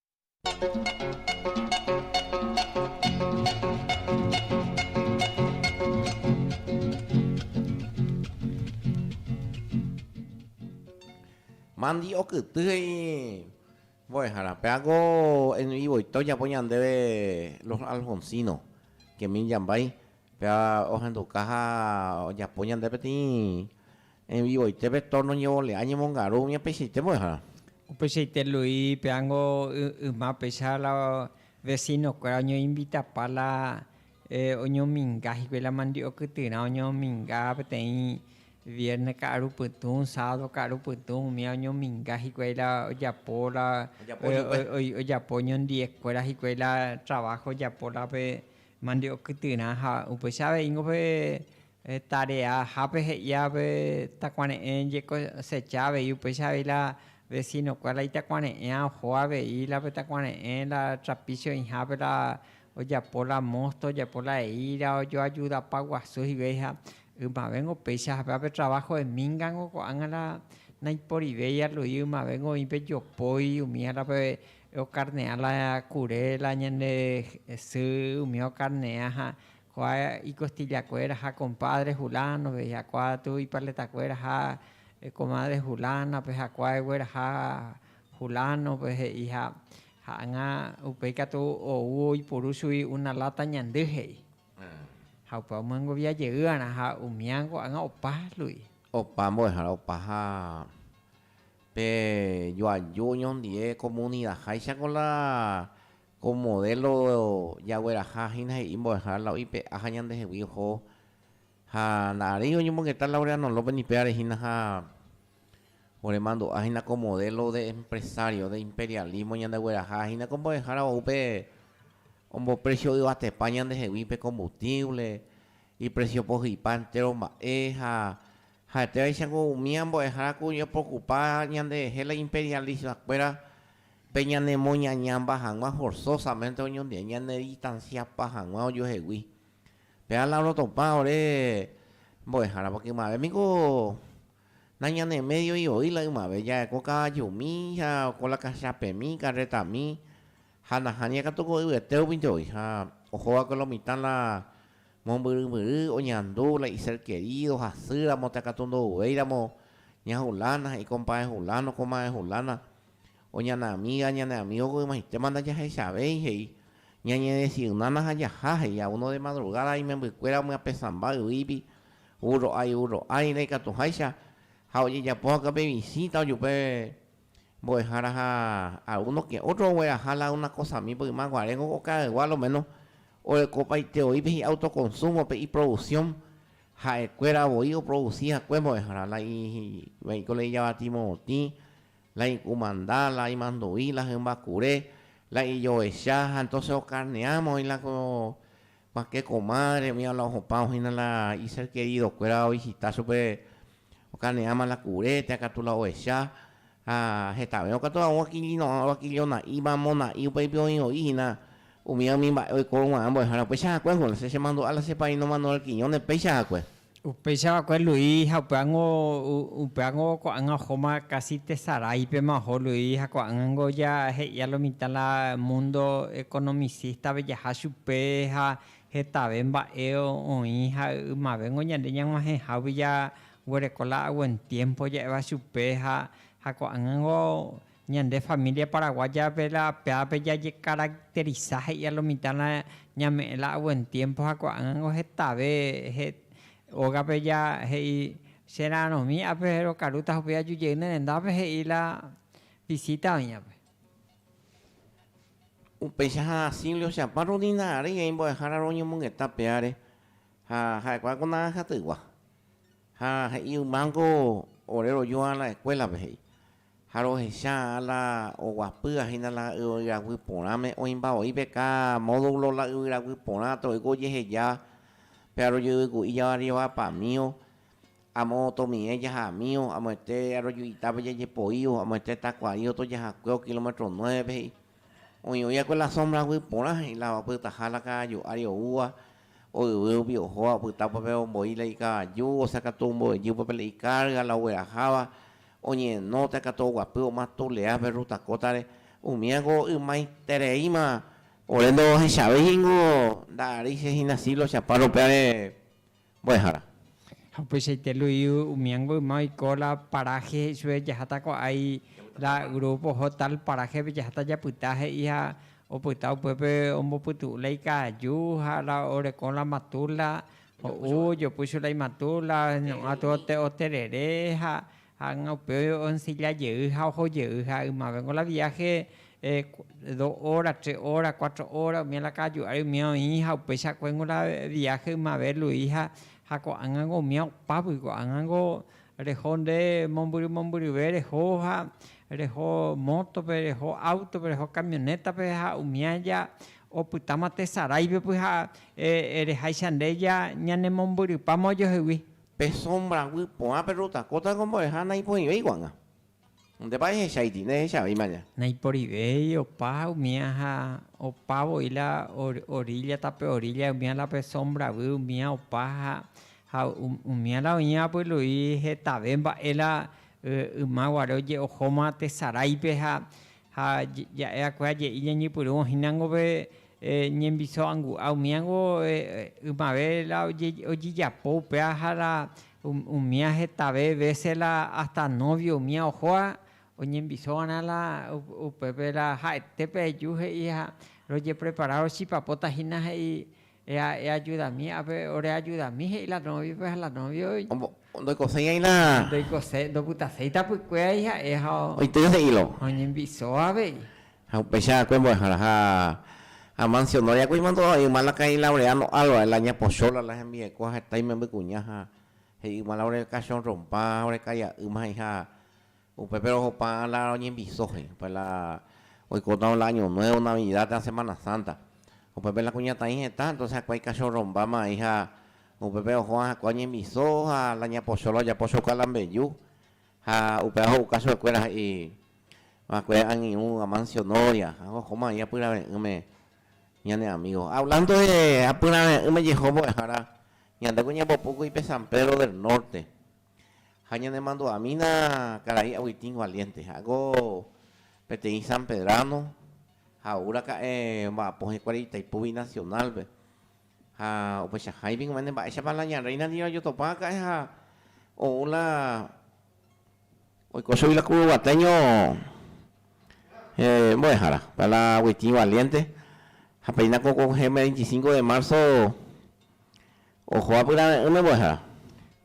Mandy okyty he'i mbo'ehára, péako en vivoite ojapo ñandéve Los Alfonsinos, Kemín Jambái, péa ohenduka ha ojapo ñande peteĩ En vivoite pe torno ñevole'a ñemongaru umi apeichaite mbo'ehára. Upeichaite Luis peángo yma péicha la vecino kuéra oñoinvitapa la oñominga hikuái la mandi'o kytyrã oñominga peteĩ vierne ka'aru pytũ, sábado ka'aru pytũ umía oñominga hikuái la ojapo la ojapo oñondive kuéra hikuái la trabajo ojapo la pe mandi'o kytyrã ha upeicha avei ningo pe Tareahápe he'ia pe takuare'ẽ jekosecha avei upéicha avei la vesinokue la itakuare'ẽa oho avei la pe takuare'ẽ la trapicho oĩhápe la ojapo la mosto ojapo la eíra ojoajudapa guasu hivei ha ymavéngo péicha hapéva pe traváho hemíngango ko'ág̃a la naiporivéi alui ymavéngo oĩ pe jopói umíva la pe okarne'a la kure la ñande sy umíva okarne'a ha Kua ikostillakuéra ha kompádre Hulánove ijakuaa tu ipaletakuéra ha komádre Hulánape ha kua egueraha Hulánope he'i ha ha'ãgã upéi katu ou oipuru chugui una láta ñandy he'i. Ha upéva omyengovia jeýarã ha umíã ko'ágã opa lugui. Opa mbo'ehára opa ha pe joaju oñondive komunidaháicha ko la Ko modelo jagueraha hína he'i mbo'ehára la oĩ pe ája ñandehegui oho ha nda'aréi oñomongeta Laureano López ni pévare hína ha oremandu'a hína ko modelo de empresario, de imperialismo ñandegueraha hína ko mbo'ehára ou pe ombopresio yvatepa ñandehegui pe combustible, ipresio pohypa entéro mba'e ha Ha'etévaicha ko umi ambuehára ku oñepokupa ñanderehe la imperialisvakuéra pe ñanemoñañamba hag̃ua forzosamente oñondive ñanedistanciapa hag̃ua ojohegui. Péva la orotopã ore mbo'ehára porque ymave niko na ñane medio ivoi la ymave ja'e ko kavajumi ha ko la kachapemi, karretami ha nahánía katu ko yvete upinte voi ha ohova'ekue lo mitã la Mombyrymbyry oñandu la iser querido hasýramo takatu ndo'uvéiramo ña Fulana ha ikompáe Fulano, komae Fulana, o ñane amiga, ñane amigo ko ymaitema ndajahechavéi, he'i, Ñañedesignana ha jaha, he'i, a uno de madrugada imembykuéra omyapesãmba yvígui, vúrro ái, vúrro ái, ndaikatuháicha, ha ojejapo hag̃ua pe visita ojupe Mbo'ehára ha a uno que otro ogueraha la una kosami pe yma guare nko okaygua lo menos orekopaite oipe hi'a autoconsumo pe iproducción ha'ekuéra voi oproduci hakue mbo'ehára la ivaíko la ijavati morotĩ, la ikumanda, la imandu'i, la hymba kure, la ijoecha ha entonces okarneáma oĩ la ko Ma che comadre umi ala ohupã ohína la i ser querido kuéra ovisita chupe okaneáma la kure térã katu la ohecha ha hetavérõ katu hag̃ua oakilino'ã oakilionaíva mona'i upéipi oĩ oĩ hína umíva umi mba'e oikórõguarã mbo'ehára upéicha hakue húna che chemandu'a la che paíno Manuel Quiñones péicha hakue. Upéicha va'ekue Luis ha upévango ko'ág̃a ohóma kasi tesaráipema oho Luis ha ko'ág̃ango ja he'ia lo mitã la mundo economicista-pe jaha chupe ha hetave mba'e oĩ ha ymavéngo ñande ñag̃uahẽhágui jaguereko la a buen tiempo ja'éva chupe ha ko'ág̃ango Ñande família paraguáyape la péape jajekaracteriza he'íva lo mitã la ñame'ẽ la a buen tiempo ha ko'ág̃ango hetave ógape ja he'i che ra'arõmi ápe rokarúta ha upéi aju jey ne rendápe he'i la visita oĩvape. Upéicha ha asímli ohechakuaa Rodina ary he'i mbo'ehára roñomongeta pe áre ha ha'ekuaa ko naranja tygua ha he'i ymángo ore roju ára la escuélape he'i Ha rohecha la oguapýa hína la yvyraguy porãme, oĩmba oĩ pe káa módulo la yvyraguy porã ato'ýko ojeheja pe arojeyvyku'i javarrievapamío, amo tomi'ẽ jahamío, amoite aroju'itápe jajepoío, amoite takua'i otojahakuéo kilómetro nuévepe he'i. Oĩ oi'akue la sómbraguy porã he'i la opytaha la kaaju ári oúva, oyvy rupi ohóva opyta upépe omboí la ikavaju, osakatu ombo'ejy upépe la ikárga, la ogueraháva, Oñehenóta katu oguapy oma tule'a pe ruta kótare, umíango ymaitereíma. Ore ndohechavéi ningo nda'aréi che hína siglo Chaparro péare mbo'ehára. Ha upeichaite Luiu umíango yma oiko la paraje he'i chupe jaháta ko'ái la grupo oho tal parajepe jaháta japyta he'i ha opyta upépe ombopytu'u la ikaju ha la orekõ la matula Ho'u, ojopu chupe la imatu, la ñu'ã tuote oterere, ha hág̃a upe oensilla jey ha oho jey. Ha ymavéngo la viáhe do óra, tre óra, kuatro óra, umi la ka'aju ári umi oĩ, ha upeichakuéngo la viáhe ymave Luis ha ko'ág̃ango umi opágui, ko'ág̃ango reho nde mombyry mombyryve reho, ha reho mótope, reho áutope, reho kamionétape ha umi aja Opytáma tesaráipe pyhareháicha nde ñanemombyrýpama ojohegui. Pe sómbra guy porã pe rotakóta ombo'eha naiporĩvéi ko'ág̃a. Ndépa ehechaiti, ndehechavéima aña. Naiporivéi opa umía ha opa voi la orílla tape orílla umía la pe sómbra guy umía opa ha umía la oĩ apylu'i hetave mba'e la yma guare oje'ohóma tesaráipe ha Ha ja'e'akue aje'i ñañepyrũ ohínango pe ñembiso angu'a, umíango ymave la ojejapo upéva ha la umía hetave vése la ásta nóvio umía ohóva oñembiso va'erã la upépe la ha'ete pe eju he'i ha rojeprepara rochipapóta hína he'i Eajudami ápe, oreajudami, he'i la nóviope ha la nóvia oĩ. Ndoikoséiai la. Ndoikose, ndopytaséi tapykuérai ha'e ha. Oitýa he'ílo. Oñembyso avei. Ha upéicha va'ekue mbo'ehára. Ha amansionóre va'ekue imandu'áva, yma la kaĩ Laureano Álvarez, la ña Pochola, la hembirekóva ha heta imembykuña ha he'i yma la ore kachorrompa, ore kai'a'ýma he'i ha Upépe rohopa la roñembyso he'i. Upépe la oikóta la año nuevo, navidad térã semana santa. Upépe la kuñataĩ hetã, entonce hakuái kachorrombáma he'i ha upépe ohóva hakuã oñembyso ha la ñapocho la ojapo chouka la mbeju. Ha upéva ho'uka chupe kuéra he'i va'ekue angirũ Amancio Noria ha ohóma he'i apyrave'ỹme ñane amigo. Hablando de apyrave'ỹme jeho mbo'ehára, ñandéko ñambopuku ipe San Pedro del Norte. Ha ñanemandu'amína karai Agustín Valiente. Ha'éko peteĩ sanpedrano ha ou raka'e omba'apo hikuái Itaipú Binacional-pe. Ha upeichahái piko mende mba'éichapa la ña Reina ndive ojotopa aka'e ha ou la oiko chugui la kuru guatéño mbo'ehára. Upéva la Agustín Valiente ha péina ko ko heme veinticinco de marzo Oho apyrave'ỹme mbo'ehára.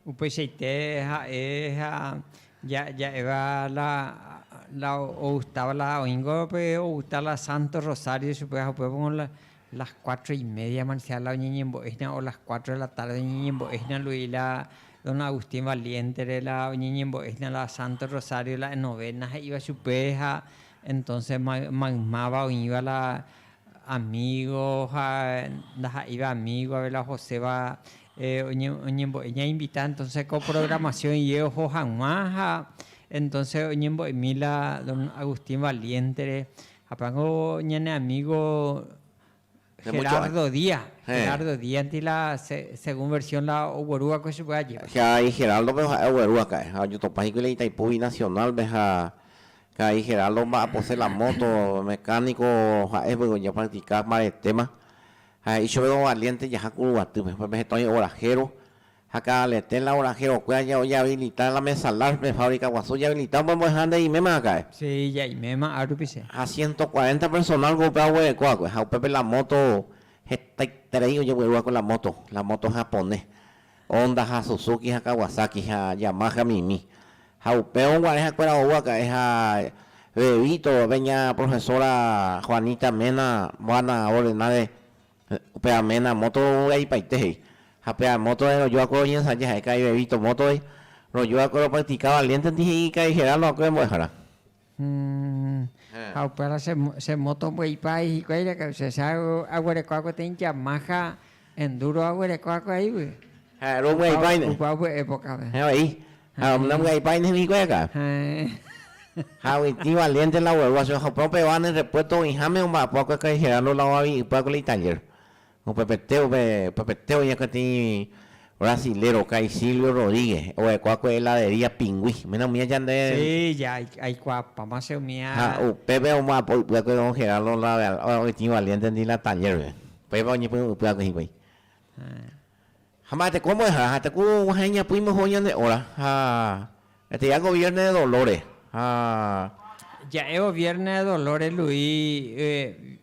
Upeichaite ha'e ha ja'éva la ogustáva la oĩngo pe ogusta la Santo Rosario chupe ha upévagui la las cuatro y media man sea la oñeñembo'éhina o las cuatro de la tarde oñeñembo'éhina lui la Don Agustín Valiéntere la oñeñembo'éhina la Santo Rosario la en novena he'íva chupe ha entonce maymáva oĩva la Amigo ha ndaha'éiva amigo avei la Joséva oñembo'e ñainvita entonce ko programación iye oho hag̃ua ha entonce oñembo'emi la don Agustín Valiéntere hapéngo ñane amigo Gerardo Díaz, Gerardo Díaz ninti la según versión la ogueru va'ekue chupe ajépa. Geraldo pe ha'e ogueru aka'e ha oñotopã hikuái la Itaipú binacional-pe ha Karai Geraldo omba'apose la móto, mecánico ha'e piko japractica mbaretéma. Ha he'i chove ovaliénte jaha ku ruguatýpe, pórke heta oĩ orahéro, ha káda letẽ la oraherokuéra jahabilita la mesalar pe fábrika guasu jahabilita upe mbo'eha nde iméma akãe. Si, ja iméma áru pise. Ha ciento cuarenta personal ko upe aguerekóva va'ekue, ha upépe la móto hetaiterei ojegueru va'ekue la móto, la móto japone. Onda ha Suzuki ha Kawasaki ha Yamaha mimi. Ha upévo guare ha'ekuéra ou aka'e ha Bebito pe ña profesora Juanita Mena Moana ordenáre pe Amena moto rovy'aipaite he'i. Ha pe amótore rojoakuéra oñensaja ha'e ka'i Bebito mótore, rojoakuéra opractica valiéntenti he'i ka'i Geraldo akue mbo'ehára. Ha upéva che moto mbo'ipái hikuái rekausesa aguereko agueteĩ Yamaha Enduro aguereko akuaígui. Ha romyaipaíne. Opa upe épokame. Héẽ vai. Ha namyaipaíne hikuái akã. Héẽ. Ha oĩtĩ valiénte la guarúva, señor Hoprópe va ne repuesto oĩháme omba'apo akue Kaiserano la ovavi'ypy akue la italler. Upepete, upepete oĩ peteĩ brasilero ka'ai Silvio Rodríguez, oguekua ku heladería Pingui. Ména umi ajande. Sí, ya aikuaapáma che umi a. Ha upépe omoapy'ypy'akue don Geraldo la oitĩ valiéntendi la taller-pe. Péipa oñepy'ypy'akue hikuái. Ha mba'e teko mbo'ehára ha teko guahẽ iñapỹ moho ñane óra, ha eteia goviérne de dolóre, ha. Ja'e goviérne de dolóre Luis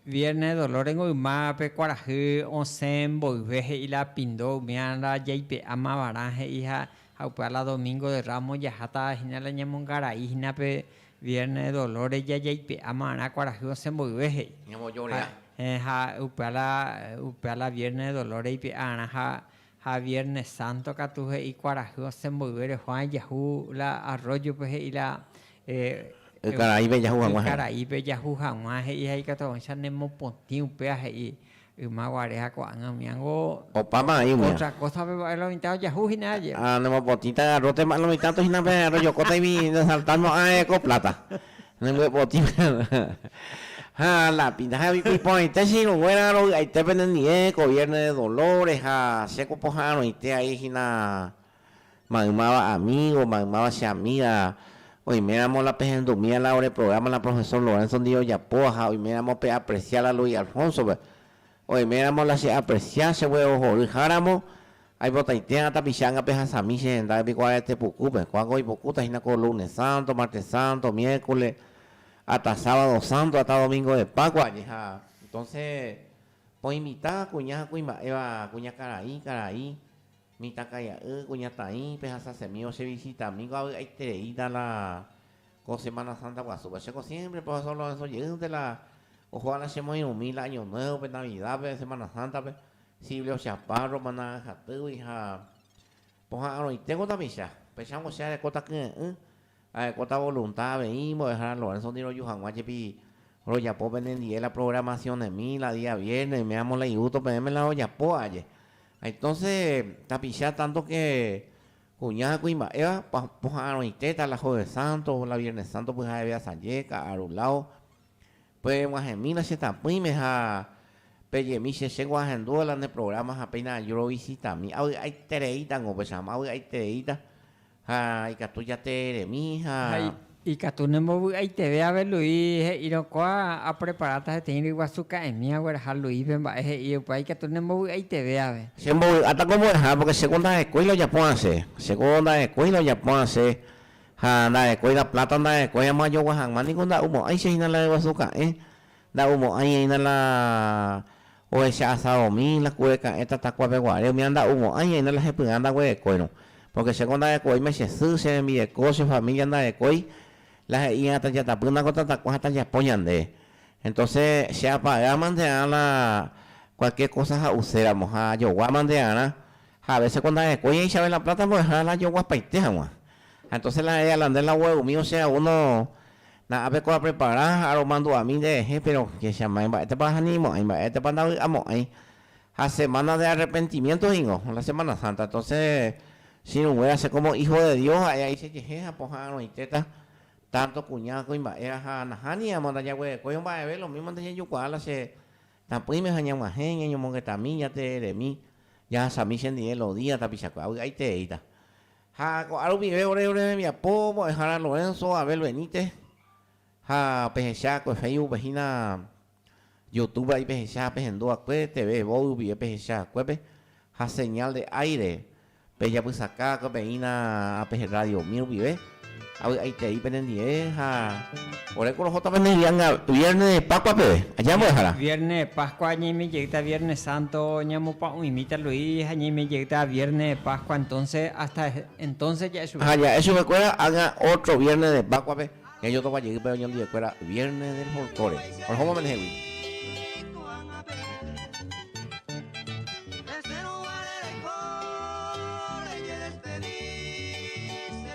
viérne de dolórengo yma pe kuarahy osẽ mboyve he'i la pindo umiára jaipe'áma va'erã he'i ha upéva la domingo de ramos jaháta hína la ñamongarai hína pe Viernes de Dolores ja jaipe'a marã kuarahy osẽ mboyve he'i. Ñamojore'a. Ha upéva la, upéva la Viernes de Dolores ipe'a'arã ha, ha Viernes Santo katu he'i kuarahy osẽ mboyve rejuã ejahu la arroyo-pe he'i la, eh, Ykaraípe ejahu hag̃ua he'i. Ykaraípe ejahu hag̃ua he'i ha ikatuavõicha nemopotĩ upéva he'i. Yma guare ha ko'ág̃a umi ángo. Opáma aĩ umi. Ótra kósape va'e la mitã ojahu hína aje. Ha nemopotĩta garrótepa la mitãto hína pe rojokóta imi nesalta mo'ãe ko pláta. Nembyepotĩta ha la pinta ha iporãite che irũnguéra rovy'aite penendive ko viérne de Dolores ha chéko poha'arõite aĩ hína. maymáva amígo, maymáva che amíga, oiméramo la pehendumíva la ore prográma la profesór Lorenzo ndive ojapóva ha oiméramo peapresia la Luis Alfónsope, oiméramo la cheapresia chegue ohorýháramo, aipotaitéma tapicha anga pehasami che hendápe piko arete pukúpe, ko'ág̃a oipokúta hína ko lunes sánto, mártes sánto, miérkole, ata sábado sánto, ata domingo de Pákua ani ha entónse poinvita kuña ha kuimba'éva, kuñakarai, karai, Mitãkaia'y, kuñataĩpe ha sasemi ochevisitami ko avy'aitereíta la ko Semana Santa guasúpe. Chéko siémpre pe ohe San Lorenzo jeýnte la ohóva la chemoirũmi la año nuévope, Navidápe, Semana Sántape, sible ocheapa romana ahatýgui ha poha'arõitéko tapicha. Pechángo che areko takyre'ỹ Ha'ékota volunta avei Mbo'ehára Lorénsoti roju hag̃ua jepi rojapo penendie la programacion'ẽmi la día viérne oime amo la igusto peẽme la rojapo aje. Ha entonce tapicha tanto ke kuña ha kuimba'éva pa poha'arõitéta la Jueves Santo, la Viernes Santo pyha'eve asaje, ka'aru lao. Pereg̃uahẽmi la che tapỹime ha pejemi che chégua ahendúvo la ne programa ha péina aju rovisitami. Avy'aitereíta niko pechama, avy'aitereíta Ha ikatu jateremi ha. Ha ikatu nembovy'aiteve ave Lui he'írõ kóa apreparáta heteĩ ryguasu ka'ẽmi agueraha Luípe mba'e he'i upéva ikatu nembovy'aiteve ave. Che mbovy'áta ko mbo'eha pórke chéko ndahekói lojapo asẽ, chéko ndahekói lojapo asẽ ha ndahekói la pláta ndahekói amo ajogua hag̃ua niko nda'u mo'ãicha hína la ryguasu ka'ẽ, nda'u mo'ãi'aína la. Ohecha asadomi la kure ka'ẽ tatakuápe guare, umi anda'umo'ãi haína la hepy'ã ndaguerekóirõ. Pórke chéko ndarekovéima che sy, che rembireko, che família ndarekói, la he'íva tajatapýna ko tatakuá ha tajapo ñande. Entóse che apagaimante'arã la kualkiér kósa ha'uséramo ha ajoguámante'arã, ha avése ko ndarekói aĩchave la pláta mbo'ehára la ajoguapaite hag̃ua. Ha entóse la erre Alandrés la oguerumivo che a uno Na'ápe ko aprepara ha aromandu'ami nderehe, péro kécha ma'ẽ, mba'étapa ahanimo'ãi, mba'étapa ndavy'amo'ãi. Ha semána de arrepentimiénto ningo, la semána sánta. Entóse chirũnguéra che kómo ího de Dios ha'e aichejehe ha pohã arõitéta, tánto kuña, kuimba'éra ha nahániramo ndajaguerekói omba'eve, lo mímante jajukuaa la che tapỹime ha ñag̃uahẽ ñañomongetami, jatereremi, jahasami chendive lo día tapichakuéra. Vy'aitereíta. Ha ko'ã rupive ore ore rembiapo mbo'ehára Lorenzo Abel Benítez ha pehecha ko Facebook pe hína Youtube vai pehecha pehendu akue TV Vogue rupive pehecha akuépe ha Señal de Aire pejapysaka akue peína ape Radio Mil rupive. Avy'aitei penendie ha ore korohóta pende yanga Viernes de Pascua peve, aja mbo'ehára. Viernes de Pascua ñaime jeýta Viernes Santo ñamopa'ũimíta Luis ha ñaime jeýta Viernes de Pascua entonce hasta entonce ja'e chupe. Ha ja'e chupekuéra ág̃a otro Viernes de Pascua-pe ñajotokua jeýpe oñondivekuéra Viernes del Folclore. Orehóma penehegui.